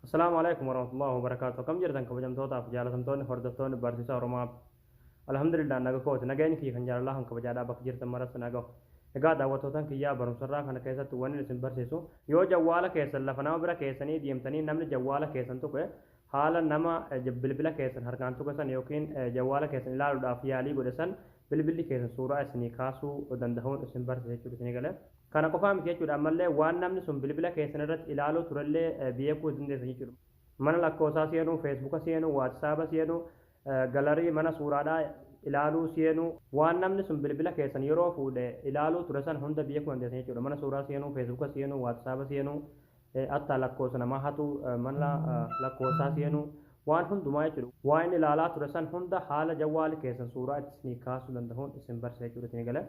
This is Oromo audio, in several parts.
Assalaamu alaikum warahmatullahi wabarakaatu akkam jirtan kabajamtootaaf jaalatamtoonni hordoftoonni barsiisaa oromaa alhamdulillah naga kooti nageenyi kiyya kan jaalalaa kan kabajaadhaa bakka jirtan maratti naga egaa daawwattootaan kiyyaa barumsarraa kana keessatti wanni isin barsiisu yoo jawwaala keessan lafa nama bira keessanii deemtanii namni jawwaala keessan tuqe haala nama bilbila keessan harkaan tuqe san yookiin jawwaala keessan ilaaluudhaaf yaalii godhe san bilbilli keessan suuraa isinii kaasuu danda'uun isin barsiisa jechuudha isinii galee Kana qofaa miti jechuudha ammallee waan namni sun bilbila keessan irratti ilaaluu turellee beekuu dandeessan jechuudha. Mana lakkoosaa seenuu, feesbuka seenuu, waatisaaba seenuu, galarii, mana suuraadhaa, ilaaluu seenuu. Waan namni sun bilbila keessan yeroo fuudhe ilaaluu ture san hunda beekuu dandeessan jechuudha. Mana suuraa seenuu, feesbuka seenuu, waatisaaba seenuu, attaa lakkoosa namaa hatuu, mana lakkoosaa seenuu, waan hundumaa jechuudha. Waan inni ilaalaa ture san hunda haala jawwaali keessan suuraa itti isinii kaasuu dandahuun isin barsiisa jechuudha isinii galee.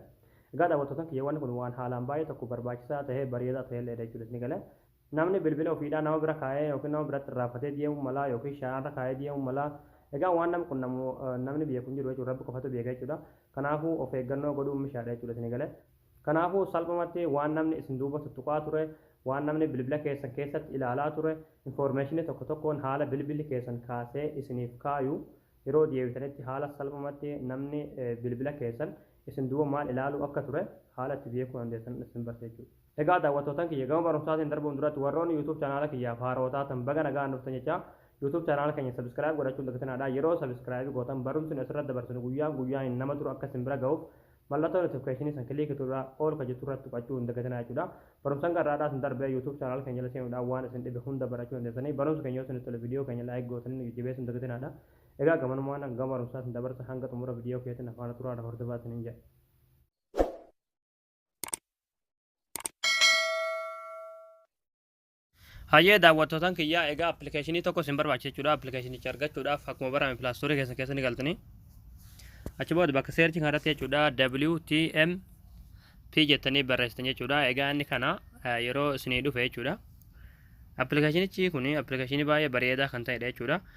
Egaa daawwattoota kiyya wanni kun waan haalaan baay'ee tokko barbaachisaa tahee bareedaa tahelleedha jechuun isni gale. Namni bilbila ofiidhaa nama bira kaayee ykn nama biratti irraanfatee deemuu mala ykn shaanarra kaayee deemuu mala. Egaa waan nama qunnamu namni beeku hin jiru jechuudha. Rabbi qofatu beeka jechuudha. Kanaafuu of eeggannoo godhuun mishaadha jechuudha isni gale. Kanaafuu salphumatti waan namni isin duuba tuttuqaa ture, waan namni bilbila keessan keessatti ilaalaa ture, information tokko tokkoon haala bilbilli keessan kaasee isiniif kaayu Yeroo deebitanitti haala salphumatti namni bilbila keessan isin duuba maal ilaaluu akka ture haala itti beekuu dandeessan isin barsa jechuudha. Egaa daawwattootan kiyya gama barumsaatiin darbuun duratti warroonni youtube channel kiyyaaf haarawa taatan baga nagaan dhuftan jechaa youtube channel keenya subscribe godhachuun dagtinaadha yeroo subscribe gootan barumsni asirratti dabarsinu guyyaan guyyaanin nama dura akka isin bira gahuuf Mallattoo notification san click tuudhaa all ka jettu irratti tuqachuu hin dagatinaa jechuudha. Barumsa hanga har'aadhaa isin darbe YouTube channel keenya jala seenuudhaan waan isin dhibe hunda barachuu dandeessanii. Barumsi keenya yoo isinitti tole video keenya like gootanii nu jajjabeessuu hin dagatinaadha. Egaa gamanumaan an gama barumsaa isin dabarsa hanga xumura video keetiin na faana turaa na hordofaa isiniin jedha. Hayyee daawwattootan kiyyaa egaa appilikeeshinii tokko isin barbaachisa jechuudha. Appilikeeshinicha argachuudhaaf akkuma barame pilaastoorii keessan keessa ni galtanii. Achi booda bakka seerchi kanarratti jechuudha WTM P jettanii barreessitan jechuudha. Egaa inni kana yeroo isinii dhufe jechuudha. Appilikeeshinichi kun appilikeeshinii baay'ee bareedaa kan ta'edha jechuudha.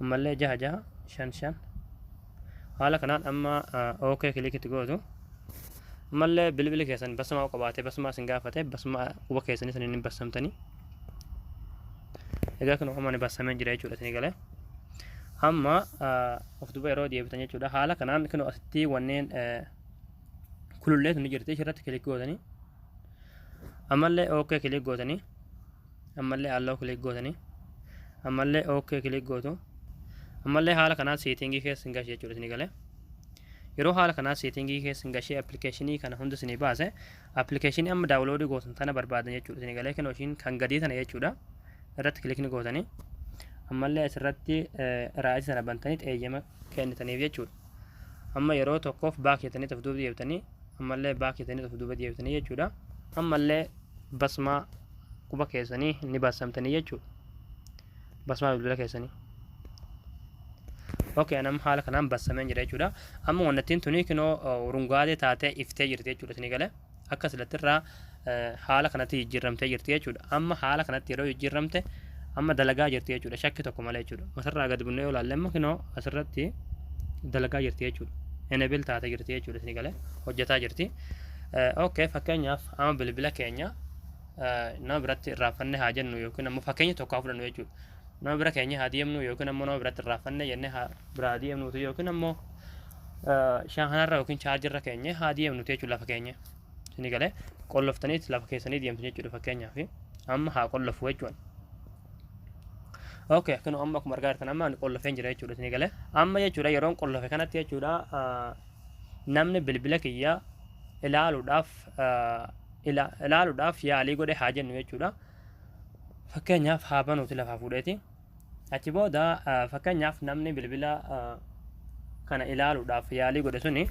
ammallee jaha jaha shan shan haala kanaan amma ok kilikitti gootu ammallee bilbili keessan basmaa qabaatee basmaa isin gaafate basmaa quba keessan isin hin bassamtanii egaa kun amma ni bassamee jira jechuudha isin galee amma of duba yeroo deebitan jechuudha haala kanaan kun asitti wanneen kulullee sun ni jirti ishirratti kilik gootanii ammallee ok kilik gootanii ammallee allow click gootanii ammallee ok click gootu ammallee haala kanaan seetingii keessa hin gashee jechuudha isinii galee yeroo haala kanaan seetingii keessa hin gashee appilikeeshinii kana hunda isinii baase appilikeeshinii amma daawuloodii gootan tana barbaadan jechuudha isinii galee kan ishiin kan gadii tana jechuudha irratti kilikni gootanii ammallee asirratti raa'ii sana bantanii xeeyyama kennitaniif jechuudha amma yeroo tokkoof baak jetanii of duuba deebitanii ammallee baak jetanii of duuba deebitanii jechuudha ammallee basmaa quba keessanii ni bassamtanii jechuudha. Basmaa bilbila keessanii. Okay, anam haala kanaan bassameen jira jechuudha. Amma wannattiin tuni kinoo urungaatee taatee iftee jirti jechuudha isinii galee. Akka silattirraa haala kanatti jijjiirramtee jirti jechuudha. Amma haala kanatti yeroo jijjiirramte amma dalagaa jirti jechuudha. Shakki tokko malee jechuudha. Masarraa gad bunnee yoo ilaalle amma kinoo asirratti dalagaa jirti jechuudha. Enable taatee jirti jechuudha isinii galee. Hojjetaa jirti. Okay, fakkeenyaaf amma bilbila keenya nama biratti irraanfanne haa jennu yookiin ammoo fakkeenya tokko haa fudhannu jechuudha. Nama bira keenya haa deemnu yookiin ammoo nama biratti irraanfanne jennee haa biraa deemnuutu yookiin ammoo shaahanarra yookiin chaarjirra keenya haa deemnuutu jechuudha lafa keenya. Isinii galee qolloftaniit lafa keessanii deemtu jechuudha fakkeenyaaf amma haa qollofu jechuudha. Okay, kun amma akkuma argaa jirtan amma ani qollofeen jira jechuudha isinii galee amma jechuudha yeroon qollofe kanatti jechuudha namni bilbila kiyya ilaaluudhaaf ila, ilaaluudhaaf yaalii godhe haa jennu jechuudha. Fakkeenyaaf haa banuuti lafaa fuudheeti. Achi booda ah, fakkeenyaaf namni bilbila ah, kana ilaaluudhaaf yaalii godhe suni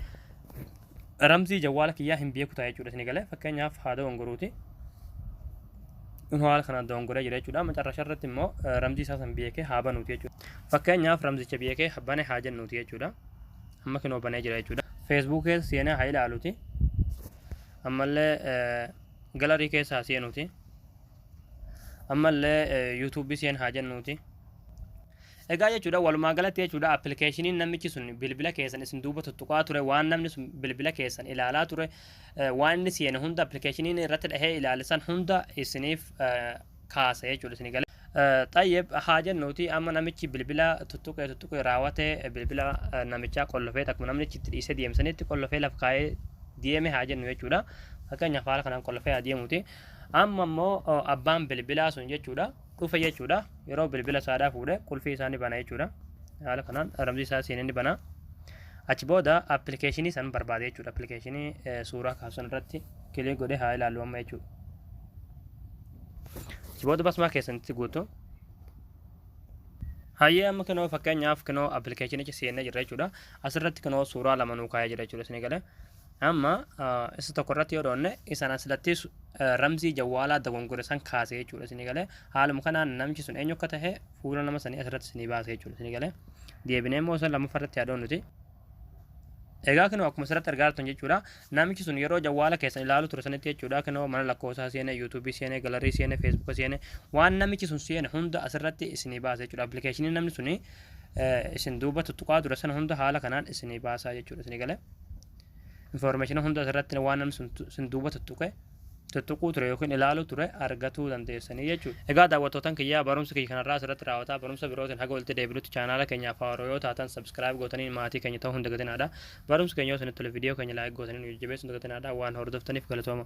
ramzii jawwaala kiyyaa hin beeku ta'a jechuudha isin galee fakkeenyaaf haa dogongoruuti. Kun haala kana dogongoree jira jechuudha. Macarrasha irratti immoo eh, ramzii isaa san beekee haa banuuti jechuudha. Fakkeenyaaf ramzicha beekee bane haa jennuuti jechuudha. Amma kinoo banee jira jechuudha. Feesbuukii keessa seenee haa ilaaluuti. ammallee galarii keessa haa seenuuti ammallee yuutuubii seen haa jennuuti egaa jechuudha walumaa galatti jechuudha appilikeeshiniin namichi sun bilbila keessan isin duuba tuttuqaa ture waan namni sun bilbila keessan ilaalaa ture waan inni seene hunda appilikeeshiniin irratti dhahee ilaalisan hunda isiniif kaasa jechuudha isin gale. Xayyib haa jennuuti amma namichi bilbila tuttuqee tuttuqee raawwate bilbila namichaa qollofee akkuma namni itti dhiisee deemsanitti qollofee lafa kaa'ee deeme haa jennu jechuudha. Fakkeenyaaf haala kanaan qollofee haa deemuuti. Amma immoo abbaan bilbilaa sun jechuudha dhufe jechuudha. Yeroo bilbila saadhaa fuudhe qulfii isaa ni bana jechuudha. Haala kanaan ramzii isaa seenee ni bana. Achi booda appilikeeshinii san barbaade jechuudha. Appilikeeshinii suuraa kaasan irratti kilee godhee haa ilaalu amma jechuudha. Achi booda basmaa keessanitti guutu. Hayyee amma kinoo fakkeenyaaf kinoo appilikeeshinicha seennee jirra jechuudha. Asirratti kinoo suuraa lama nuu kaa'ee jira jechuudha isin galee. Amma isa tokko irratti yoo dhoonne isaan asirratti ramzii jawwaalaa dogongore san kaase jechuudha isin galee. Haaluma kanaan namichi sun eenyu akka ta'e fuula nama sanii asirratti isinii baase jechuudha isin galee. Deebinee immoo isa lammaffaa irratti haa dhoonnuti. Egaa kinoo akkuma asirratti argaa jirtan jechuudha. Namichi sun yeroo jawwaala keessan ilaalu ture sanitti jechuudha. Kinoo mana lakkoofsaa seene, yuutuubii seene, galarii seene, feesbuuka seene, waan namichi sun seene hunda asirratti isinii baasa jechuudha. Appilikeeshinii namni suni isin duuba tuttuqaa ture sana hunda haala kanaan isinii baasaa jechuudha. Isinii galee. Infoormeeshina hunda asirratti waan namni sun duuba tuttuqe tuttuquu ture yookiin ilaaluu ture argatuu dandeessanii jechuudha. Egaa daawwattootan kiyyaa barumsi kiyya kanarraa asirratti raawwataa barumsa birootiin haga walitti deebinutti chaanaala keenyaaf haaroo yoo taatan subscribe gootanii maatii keenya ta'uu hin dagatinaadha. Barumsi keenya yoo isinitti tole viidiyoo keenya like gootanii nu jajjabeessuun dagatinaadha waan hordoftaniif galatooma.